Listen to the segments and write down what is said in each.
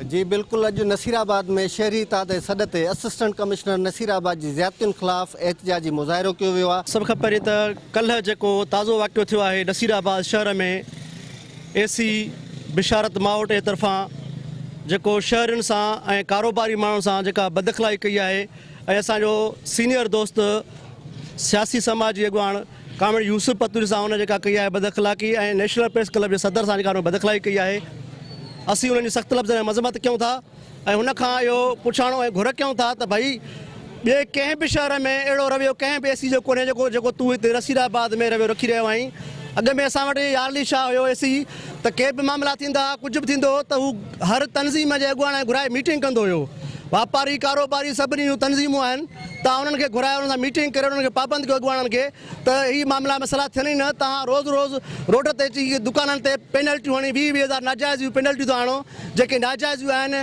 جي بلڪل اڄ نصير آباد ۾ شهري اتحاد جي سڏ تي اسسٽنٽ ڪمشنر نصير آباد جي زيادتين خلاف احتجاجي مظاهرو ڪيو ويو آهي. سڀ کان پهرين ته ڪلهه جيڪو تازو واقعو ٿيو آهي نصير آباد شهر ۾ اي سي بشارت ماوٽ جي طرفان جيڪو شهرين سان ۽ ڪاروباري ماڻهن سان جيڪا بداخلائي ڪئي آهي ۽ اسان جو سينئر دوست سياسي سماجي اڳواڻ ڪامريڊ يوسف پتوجي سان هن جيڪا ڪئي آهي بداخلاقي ۽ نيشنل پريس ڪلب جي صدر سان جيڪا هن بداخلاقي ڪئي آهي اسين انهن جي سخت لفظن ۾ مذمت ڪيون ٿا ۽ هن کان اهو پڇاڻو ۽ گهر ڪيون ٿا ته ڀئي ٻئي ڪنهن به شهر ۾ اهڙو رويو ڪنهن به اي سي جو ڪونهي جيڪو جيڪو تون هتي نصير آباد ۾ رويو رکي رهيو آهين اڳ ۾ اسان وٽ يار علي شاهه هيو اي سي ته ڪي به معاملا ٿيندا هئا ڪجهه به ٿيندو هو ته هو هر تنظيم جي اڳواڻ گهرائي ميٽنگ ڪندو هيو واپاري ڪاروباري سڀني جون تنظيمون آهن تان انهن کي گهرائي انهن سان ميٽنگ ڪري انهن کي پابند ڪيو اڳواڻن کي ته هي معاملا مسئلا ٿين ئي نه تان روز روز روڊ تي اچي دڪانن تي پينلٽيون هڻي ويهه ويهه هزار ناجائزيون پينلٽيون ٿا هڻو جيڪي ناجائزيون آهن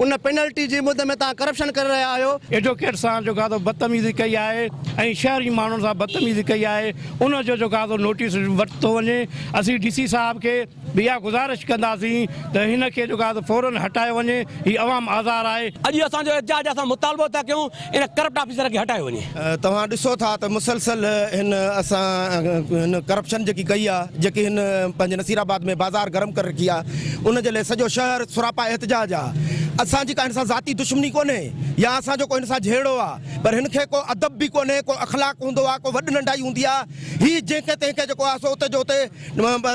ان پينلٽي جي مد ۾ تان ڪرپشن ڪري رهيا آهيو. ايڊووڪيٽ سان جو ڪا تو بدتميزي ڪئي آهي ۽ شهري ماڻهن سان بدتميزي ڪئي آهي ان جو جو ڪا تو نوٽيس ورتو وڃي اسين ڊي سي صاحب کي. به اها گذارش ڪنداسين ته هن کي جيڪو آهي سو فوراً هٽايو وڃي، هي عوام آزار آهي. اڄ اهو اسان جو احتجاج آهي، اسان مطالبو ٿا ڪيون ان ڪرپٽ آفيسر کي هٽايو وڃي. توهان ڏسو ٿا ته مسلسل هن اسان هن ڪرپشن جيڪي ڪئي آهي، جيڪي هن پنهنجي نصير آباد ۾ بازار گرم ڪري رکي آهي، ان جي لئه سڄو شهر سراپا احتجاج آهي. اسان جي ڪا هن سان ذاتي دشمني ڪونهي يا اسان جو ڪو هن سان جهيڙو آهي، پر هن کي ڪو ادب به ڪونهي، ڪو اخلاق هوندو آهي، ڪو وڏ ننڍائي هوندي آهي، هي جنهن کي تنهن کي جيڪو آهي سو اتي جو اتي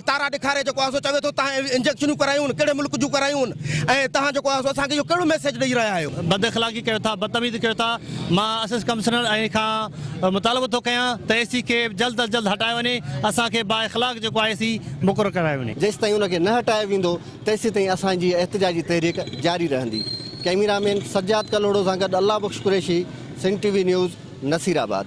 تارا ڏيکاري جيڪو آهي سو چوي ٿو تهان انجيڪشنون ڪرايون ڪهڙي ملڪ جون ڪرايون ۽ تهان جيڪو آهي سو اسان کي اهو ڪهڙو ميسيج ڏئي رهيا آهيو. بد اخلاقي ڪيو ٿا بدتميزي ڪيو ٿا مان اسس ڪمسنر ۽ کان مطالبو ٿو ڪيان ته اي سي کي جلد از جلد هٽايو وڃي اسان کي با اخلاق جيڪو آهي اي سي مقرر ڪرايو وڃي. جيستائين ان کي نه هٽايو ويندو تيسيتائين اسان جي احتجاجي تحريڪ جاري رهندي ڪئميرا مين سجاد ڪلهوڙو سان گڏ Allah Bakhsh Qureshi Sindh T V news Nasirabad.